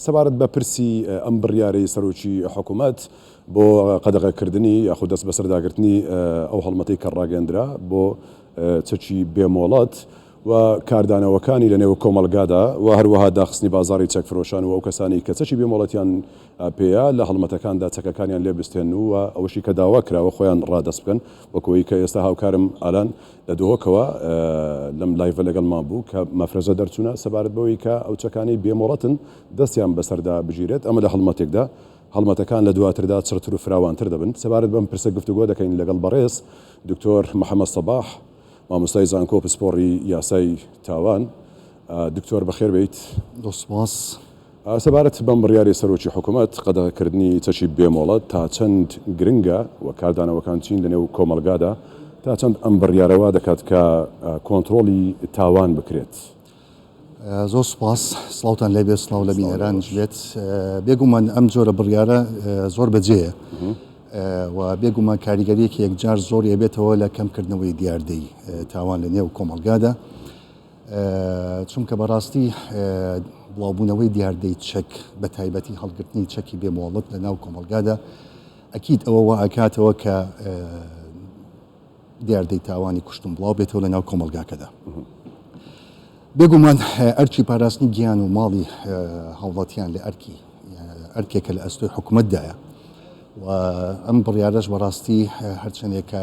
سەبارەت بە پرسی ئەم بڕیارەی سەرۆکی حکومەت بۆ قەدەغەکردنی یاخود دەستبەسەرداگرتنی ئەو هەڵمەتەی کە ڕاگەیەندرا بۆ چەکی بێ مۆڵەت و کاردانەوەکانی لە نێو کۆمەڵگادا و هەروەها داخستنی بازاڕی چەک فرۆشان و ئەو کەسانەی کە چەکی بێ مۆڵەتیان پێیە لە هەڵمەتەکاندا چەکەکانیان لێ بستێن و ئەوەشی کە داوا کراوە خۆیان ڕادەست بکەن وەکو ئەوەی کە ئێستا هاوکارم ئالان لە دهۆکەوە لەم لایڤە لەگەڵمان بوو کە مەفرەزە دەرچوونە سەبارەت بەوەی کە ئەو چەکانەی بێ مۆڵەتن دەستیان بەسەردا بگیرێت ئەمە لە هەڵمەتێکدا هەڵمەتەکان لە دواتردا چڕتر و فراوانتر دەبن سەبارەت بەم پرسە گفتوگۆ دەکەین لەگەڵ بەڕێز دکتۆر محەمەد سەباح مامۆستای زانکۆ پسپۆڕی یاسای تاوان دکتۆر بەخێر بیت سپاس سەبارەت بەم بڕیارەی سەرۆکی حکومەت، قەدەغەکردنی چەکی بێ مۆڵەت تا چەند گرنگە و کاردانەوەکان چین لەنێو کۆمەڵگادا، تا چەند ئەم بڕیارە وا دەکات کە کۆنتڕۆڵی تاوان بکرێت؟ زۆر سوپاس، سڵاوتان لێ بێت، سڵاو لە بینەرانیش بێت. بێگوومان ئەم جۆرە بڕیارە زۆر بە جێیە و بێگوومان کاریگەریەکی یەکجار زۆری ئەبێتەوە لە کەمکردنەوەی دیاردەی تاوان لەنێو کۆمەڵگادا. چونکە بەڕاستی بڵاوبوونەوەی دیاردەی چەک بە تایبەتی هەڵگرتنی چەکی بێ مۆڵەت لە ناو کۆمەڵگادا ئەکییت ئەوە وا ئەکاتەوە کە دیاردەی تاوانی کوشتن بڵاو بێتەوە لە ناو کۆمەلگاکەدا بێگومان ئەرچی پاراستنی گیان و ماڵی هاوڵاتیان لە ئەرکی ئەرکێکە لە ئەستۆی حکوومەتدایە و ئەم بڕیارش بەڕاستی هەرچەندێکە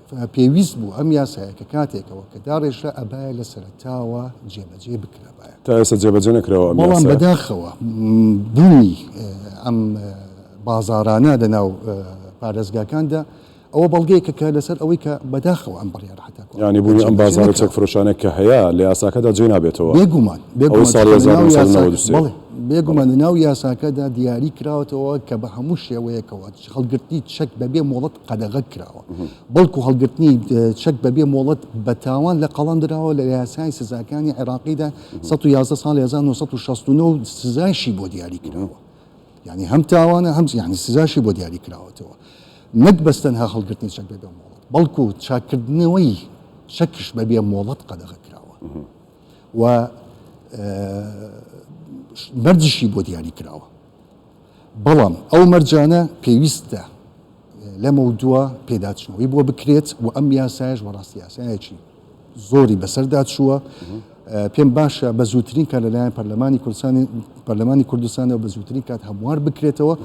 پێویست بوو ئەم یاسایە کە کاتێکەوە کە داڕێژرا ئەبایە لە سەرەتاوە جێبەجێ بکرابایە. تا ئێستا جێبەجێ نەکراوە ئەم یاسایە. بەڵام بەداخەوە بوونی ئەم بازاڕانە لە ناو پارێزگاکاندا ئەوە بەڵگەیەکە لەسەر ئەوەی کە بەداخەوە ئەم بڕیارە هەتا کۆتایی یانی بوونی ئەم بازاڕە چەک فرۆشانە کە هەیە لە یاساکەدا جێ نابێتەوە. بێگومان ئەوەی ساڵی هەزار و نۆ سەد و نەوەد و سێ. بەڵێ بێگومان لە ناو یاساکەدا دیاری کراوەتەوە کە بە هەموو شێوەیەکەوە. هەڵگرتنی چەک بەبێ مۆڵەت قەدەغە کراوە، بەڵکو هەڵگرتنی چەک بەبێ مۆڵەت بە تاوان لە قەڵەم دراوە لە یاسای سزاکانی عێراقیدا 111 ساڵی 1969 سزایشی بۆ دیاری کراوە. یعنی هەم تاوانە هەم یعنی سزاشی بۆ دیاری کراوەتەوە نەک بەس تەنها هەڵگرتنی چەک بەبێ مۆڵەت بەڵکو چاککردنەوەی چەکش بەبێ مۆڵەت قەدەغە کراوە و مەرجشی بۆ دیاری کراوە. بەڵام ئەو مەرجانە پێویستە لەمەودوا پێداچوونەوەی بۆ بکرێت و ئەم یاسایش وەڕاست یاسایەکی زۆری بەسەردا چووە پێم باشە بە زووترین کار لەلایەن پەرلەمانی کوردستانی پەرلەمانی کوردستانەوە بە زووترین کات هەموار بکرێتەوە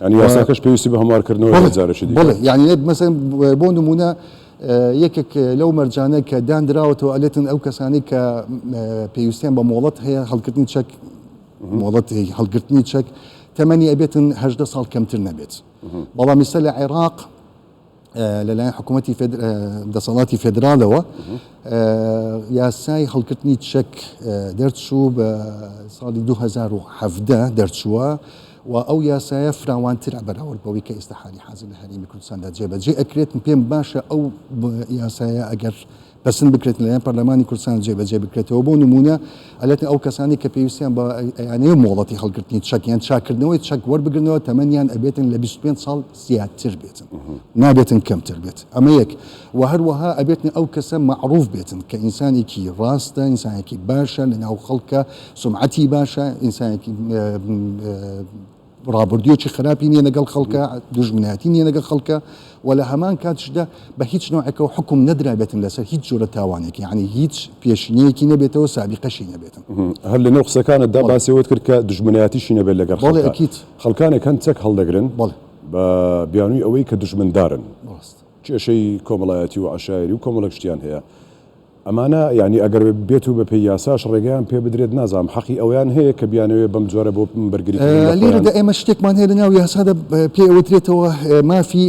ینی یاساکەش پێویستی بە هەموارکردنەوە جارشی بڵێ یعنی مەسەن بۆ نمونە یەکێک لەو مەرجانە کە دانراوەتەوە ئەلێتن ئەو کەسانی کە پێویستیان بە مۆڵەت هەیە هەڵکردنی چەک مۆڵەت هەڵگرتنی چەک تەمەنی ئەبێتن هەژدە ساڵ کەمتر نەبێت بەڵام ئیستا لە عێراق لەلایەن حکوومەتتی دەسەڵاتی فێدرالەوە یاسای هەڵکردنی چەک دەرچوو بە ساڵی 2017 دەرچووە و ئەو یاسایە فراوانتر بەراورد بەوەی کە ئێستا حالی حازر لە هەرێمی کوردستاندا جێبەجێ ئەکرێت پێم باشە ئەو یاسایە ئەگەر پەسند بکرێت لەلایەن پەرلەمانی کوردستان جێبەجێ بکرێتەوە بۆ نموونە ئەلێتن ئەو کەسانەی کە پێویستیان بە ئەیانەیە مۆڵەتی هەڵگرتنی چەک یان چاکردنەوەی چەک وەربگرنەوە تەمەنیان ئەبێتن لە 25 ساڵ زیاتر بێتن نابێتن کەمتر بێت ئەمە یەک و هەروەها ئەبێتن ئەو کەسە معروف بێتن کە ئینسانێکی ڕاستە ئینسانێکی باشە لە ناو خەڵکە سمعەتی باشە ئینسانێکی ڕابردوویەکی خراپی نییە لەگەڵ خەڵکە، دوژمنایەتی نییە لەگەڵ خەڵکە و لە هەمان کاتیشدا بە هیچ نۆعێکەوە حوکم نەدرابێتن لەسەر هیچ جۆرە تاوانێک، یەعنی هیچ پێشینەیەکی نەبێتەوە، سابیقەشی نەبێتن. هەر لەنێو قسەکانتدا باسی ئەوەت کرد کە دوژمنایەتیشی نەبێت لەگەڵ خەڵکە. بەڵێ ئەکید. خەڵکانێک هەن چەک هەڵدەگرن بەڵێ. بە بیانووی ئەوەی کە دوژمندارن. ڕاست. کێشەی کۆمەڵایەتی و عەشایەری و کۆمەڵێک شتیان هەیە. ئەمانە یانی ئەگەر بێت و بەپێی یاساش ڕێگەیان پێ بدرێت نازانم حەقی ئەوەیان هەیە کە بیانەوێت بەم جۆرە بۆ بەرگری کردن لە خۆیان. لێرەدا ئێمە شتێکمان هەیە لەناو یاسادا پێی ئەوترێتەوە مافی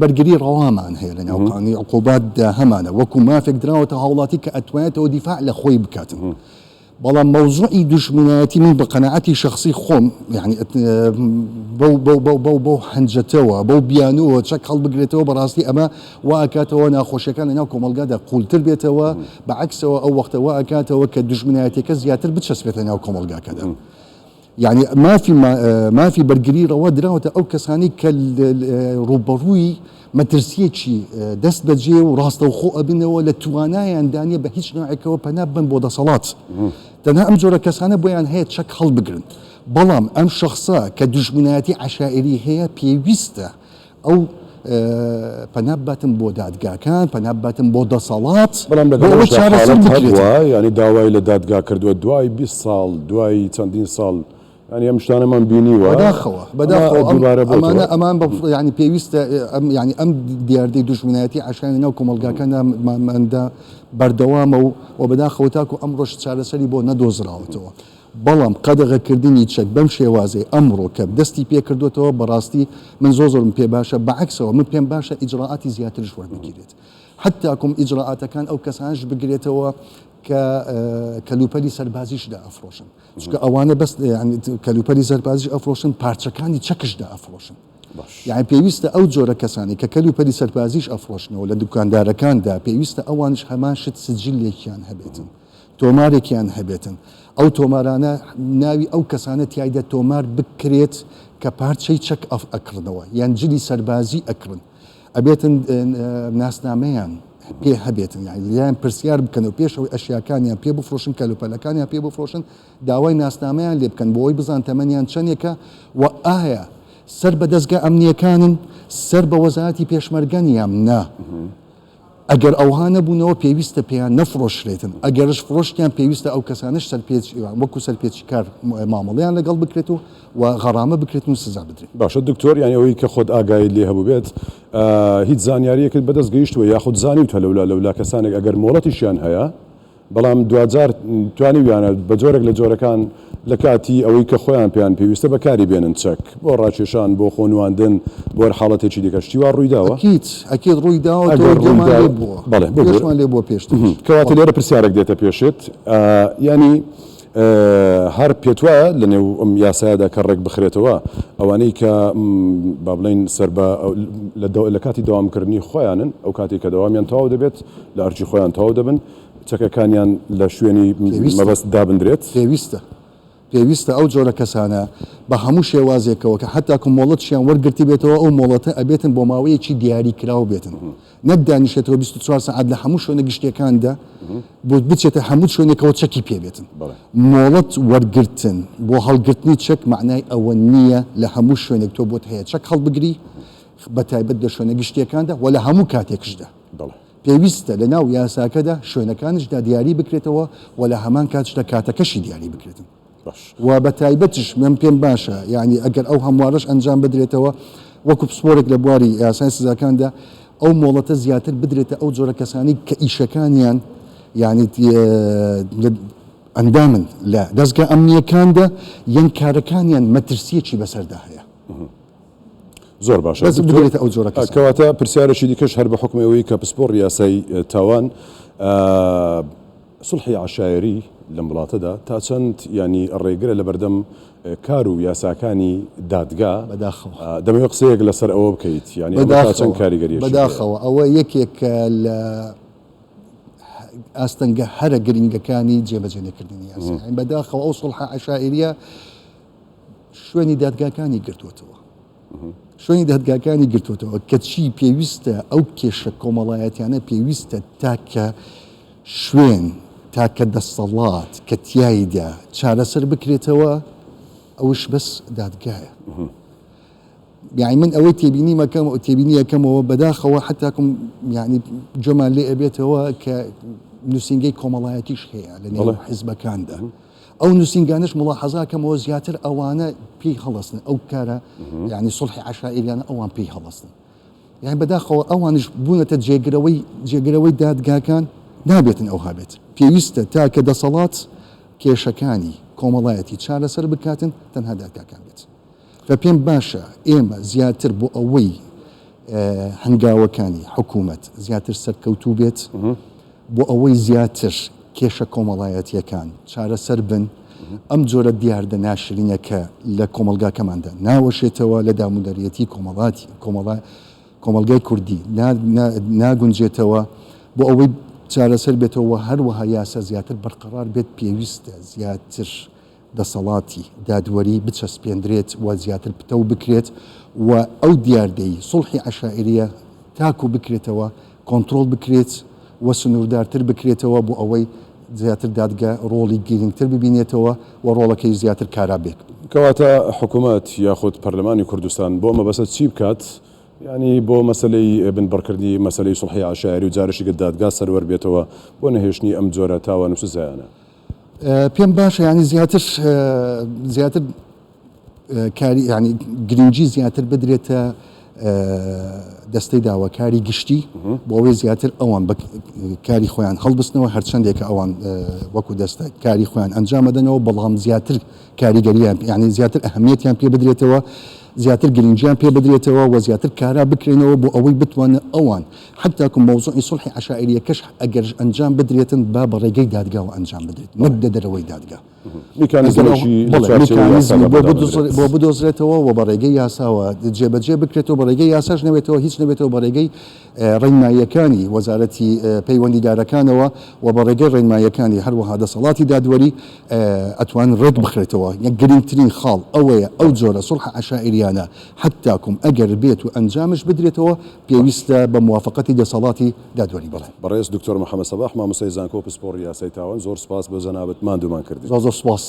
بەرگری ڕەوامان هەیە لەناو قانونی عقوباتدا هەمانە وەکو مافێک دراوەتە هاوڵاتی کە ئەتوانێتەوە دیفاع لە خۆی بکات. بەڵام مەوزوعی دوژمنایەتی من بە قەناعەتی شەخسی خۆم یەعنی بەو بەو بەو بەو بەو هەنجەتەوە بەو بیانووەوە چەک هەڵبگرێتەوە بەڕاستی ئەمە وا ئەکاتەوە ناخۆشیەکان لەناو کۆمەڵگادا قوولتر بێتەوە بە عەکسەوە ئەو وەختە وا ئەکاتەوە کە دوژمنایەتیەکە زیاتر بچەسپێتە ناو کۆمەڵگاکەدا. یەعنی مافی مافی بەرگری ڕەوا دراوەتە ئەو کەسانەی کە ڕووبەڕووی مەترسیەکی دەست بەجێ و ڕاستەوخۆ ئەبنەوە لە توانایان دانیە بە هیچ نوعێکەوە پەنا بن بۆ دەسەڵات تەنها ئەم جۆرە کەسانە بۆیان هەیە چەک هەڵبگرن بەڵام ئەم شخصە کە دوژمنایەتی عشائری هەیە پێویستە ئەو پەنا بباتن بۆ دادگاکان، پەنا بباتن بۆ دەسەڵات، بەڵام لەگەڵ بۆ ئەوەی ئەوەشدا چارەسەر حاڵەت هەبووە، بکرێتەوە. یانی داوای لە دادگا کردووە دوای بیست ساڵ، دوای چەندین ساڵ، یانی ئەم شتانەمان بینیوە، بەداخەوە، ئەمە بەداخەوە ئەم دووبارە بۆتەوە. ئەمانە ئەمان بە یانی پێویستە ئەم یانی ئەم دیاردەی دوژمنایەتی عەشایەری ناو کۆمەڵگاکاندا ماندا بەردەوامە و و بەداخەوە تاکوو ئەمڕۆش چارەسەری بۆ نەدۆزراوەتەوە. بەڵام قەدەغەکردنی چەک بەم شێوازەی ئەمڕۆ کە دەستی پێکردۆتەوە بەڕاستی من زۆر زۆرم پێ باشە بەعەکسەوە من پێم باشە ئیجرائاتی زیاترش وەربگیرێت حتاکوم ئیجرائاتەکان ئەو کەسانش بگرێتەوە کە کەلوپەلی سەربازیش دا ئەفرۆشن چکە ئەوانە بەس کەلوپەلی سەربازیش ئەفرۆشن پارچەکانی چەکش دا ئەفرۆشن یان پێویستە ئەو جۆرە کەسانی کە کەلو پەری سەربازیش ئەفرۆشنەوە لە دوکاندارەکاندا پێویستە ئەوانش هەمان شت سجلێکیان هەبێتن تۆمارێکیان هەبێتن ئەو تۆمارانە ناوی ئەو کەسانە تیایدا تۆمار بکرێت کە پارچەی چەک ئەکڕنەوە یان جلی سەربازی ئەکڕن ئەبێتن ناسنامەیان پێ هەبێتن یان لەلایەن پرسیار بکەن و پێش ئەوەی ئەشیاکانیان پێ بفرۆشن کەلوپەلەکانیان پێ بفرۆشن داوای ناسنامەیان لێ بکەن بۆی بزان تەمەنیان چەندێکە و ئایا سەر بە دەزگا ئەمنیەکانن سەر بە وەزارەتی پێشمەرگەن یان نا. ئەگەر ئەوها نەبوونەوە پێویستە پێیان نەفڕۆشرێتن، ئەگەرش فرۆشتیان پێویستە ئەو کەسانەش سەرپێچیان وەکو سەرپێچیکار مامەڵەیان لەگەڵ بکرێت و و غەڕامە بکرێتن و سزا بدرێن. باشە دکتۆر یانی ئەوەی کە خۆت ئاگایت لێ هەبوبێت هیچ زانیاریەکت بەدەست گەیشتوە یاخود زانیوتە لەولا لەولا کەسانێک ئەگەر مۆڵەتیشیان هەیە بەڵام دواجار توانیویانە بە جۆرێک لە جۆرەکان لە کاتی ئەوەی کە خۆیان پێیان پێویستە بەکاری بێنن، چەک بۆ ڕاکێشان، بۆ خۆ نواندن، بۆ هەر حاڵەتێکی دیکە. شتی وا ڕووی داوە؟ ئەکید، ئەکید ڕووی داوە، ئەگەر ڕووی تۆێمان لێ بووە، بەڵێ بگۆ، پێشمان لێ بووە پێشتریش. کەواتە لێرە پرسیارێک دێتە پێشت، یانی، هەر پێتوایە لە نێو ئەم یاسایەدا کە ڕێکبخرێتەوە ئەوانەی کە با بڵێین سەر بە لە کاتی دەوامکردنی خۆیانن ئەو کاتێک کە دەوامیان تەواو دەبێت لە ئەرکی خۆیان تەواو دەبن چەکەکانیان لە شوێنی مەبەست دابندرێت پێویستە پێویستە ئەو جۆرە کەسانە بە هەموو شێوازێکەوە کە حتاکو مۆڵەتشیان وەرگرتی بێتەوە ئەو مۆڵەتە ئەبێتن بۆ ماوەیەکی دیاری کراو بێتن نەک دانیشێتەوە بیست و چوار سەعات لە هەموو شوێنە گشتییەکاندا بۆ بچێتە هەموو شوێنێکەوە چەکی پێ بێتن. مۆڵەت وەرگرتن بۆ هەڵگرتنی چەک مەعنای ئەوە نییە لە هەموو شوێنێک تۆ بۆت هەیە چەک هەڵبگری، بە تایبەت لە شوێنە گشتییەکاندا و لە هەموو کاتێکشدا. پێویستە لەناو یاساکەدا شوێنەکانیشدا دیاری بکرێتەوە و لە هەمان کاتشدا کاتەکەشی دیاری بکرێتن. ڕەش. و بە تایبەتیش من پێم باشە یانی ئەگەر ئەو هەموارەش ئەنجام بدرێتەوە وەکو پسپۆرێک لە بواری یاسای سزاکاندا ئەو مۆڵەتە زیاتر بدرێتە ئەو جۆرە کەسانی کە ئیشەکانیان یانی ئەندامن لە دەستگا ئەمنیەکاندا یان کارەکانیان مەترسیەکی بەسەردا هەیە زۆر باشە بێتە ئەو جۆرە کەواتە پرسیارێکی دیکەش هەر بە حکومەوەی کە پسپۆڕ یاسای تاوان سوڵحی عەشایەری لەم وڵاتەدا تا چەند یانی ڕێگرە لەبەردەم کار و یاساکانی دادگا؟ بەداخەوە. دەمەوێت قسەیەک لەسەر ئەوە بکەیت یانی ئەمە تا چەند کاریگەریەکی هەیە؟ بەداخەوە ئەوە یەکێکە لە ئاستەنگە هەرە گرنگەکانی جێبەجێ نەکردنی یاسا بەداخەوە ئەو سوڵحە عەشایەریە شوێنی دادگاکانی گرتووەتەوە. شوێنی دادگاکانی گرتۆتەوە، کەچی پێویستە ئەو کێشە کۆمەڵایەتیانە پێویستە تاکە شوێن، تاکە دەسەڵات کە تیایدا چارەسەر بکرێتەوە ئەوش بەس دادگایە. یعنی من ئەوەی تێبینی مەکەم و تێبینی یەکەمەوە بەداخەوە حتاکم یعنی جۆمان لێ ئەبێتەوە کە نووسنگەی کۆمەڵایەتیش هەیە لە نێو حزبەکاندا. ئەو نوسینگانەش موڵاحەزا کەمەوە زیاتر ئەوانە پێی هەڵەسن ئەو کارە یعنی سڵحی عشائریانە ئەوان پێی هەڵەسن یان بەداخەوە ئەوانش بوونەتە جێگرەوەی جێگرەوەی دادگاکان نابێتن ئەو هابێت پێویستە تاکە دەسەڵات کێشەکانی کۆمەڵایەتی چارەسەر بکاتن تەنها دادگاکان بێت و پێم باشە ئێمە زیاتر بۆ ئەوەی هەنگاوەکانی حکوومەت زیاتر سەرکەوتوو بێت بۆ ئەوەی زیاتر کێشە کۆمەڵایەتیەکان چارەسەر بن ئەم جۆرە دیاردە ناشرینەکە لە کۆمەلگاکەماندا ناوەشێتەوە لە دامودەریەتی کۆمەڵاتی کۆمەڵای کۆمەلگای کوردی ناگونجێتەوە بۆ ئەوەی چارەسەر بێتەوە هەروەها یاسا زیاتر بەرقەرار بێت پێویستە زیاتر دەسەڵاتی دادوەری بچەسپێندرێت و زیاتر پتەو بکرێت و ئەو دیاردەی سوڵحی عەشائیرییە تاکو بکرێتەوە کۆنترۆڵ بکرێت و سنووردارتر بکرێتەوە بۆ ئەوەی زیاتر دادگە ڕۆڵی گرینگتر ببینێتەوە و ڕۆڵەکەی زیاتر کارا بێت. کەواتە حکومەت یاخود پەرلەمانی کوردستان بۆ ئەم مەبەستە چی بکات؟ یانی بۆ مەسەلەی بنبڕکردنی مەسەلەی سوڵحی عەشایری و جارشیکە دادگا سەروەر بێتەوە بۆ نەهێشتنی ئەم جۆرە تاوان و سزایانە؟ پێم باشە یانی زیاتر زیاتر کاری ینی گرنگجی زیاتر بدرێتە دەستەی داوە کاری گشتی بۆەوەی زیاتر ئەوان بە کاری خۆیان هەڵبستنەوە هەرچەندێک ئەوان وەکو دەستە کاری خۆیان ئەنجامەدەنەوە بەڵام زیاتر کاریگەریان ینی زیاتر ئەهمیەتیان پێ بدرێتەوە زیاتر گرنگیان پێ بدرێتەوە و زیاتر کارا بکرێنەوە بۆ ئەوەی بتوانن ئەوان حتی کە مەوزوعی سوڵحی عەشائیریەکەش ئەگەرش ئەنجام بدرێتن با بە ڕێگەی دادگاوە ئەنجام بدرێت نەک لە دەرەوەی دادگا. میکانیزمێکی لە چوارچێوەی یاسادا بۆ دابنرێت. بۆ بدۆزرێتەوە و بە ڕێگەی یاساوە جێ بە جێ بکرێتەوە بە ڕێگەی یاساش نەبێتەوە هیچ نەبێتەوە بە ڕێگەی ڕێنماییەکانی وەزارەتی پەیوەندیدارەکانەوە و بە ڕێگەی ڕێنماییەکانی هەروەها دەسەڵاتی دادوەری ئەتوان ڕێک بخرێتەوە. گرینگترین خاڵ ئەوەیە ئەو جۆرە سوڵحە عەشائیریانە حتی کە ئەگەر بێت و ئەنجامش بدرێتەوە پێویستە بە موافەقەتی دەسەڵاتی دادوەری بڵێ. بەڕێز دکتۆر محمد سەباح مامۆستای زانکۆ پسپۆڕی یاسای تاوان زۆر سوپاس بۆ جەنابت ماندوومان کردی. زۆر زۆر سوپاس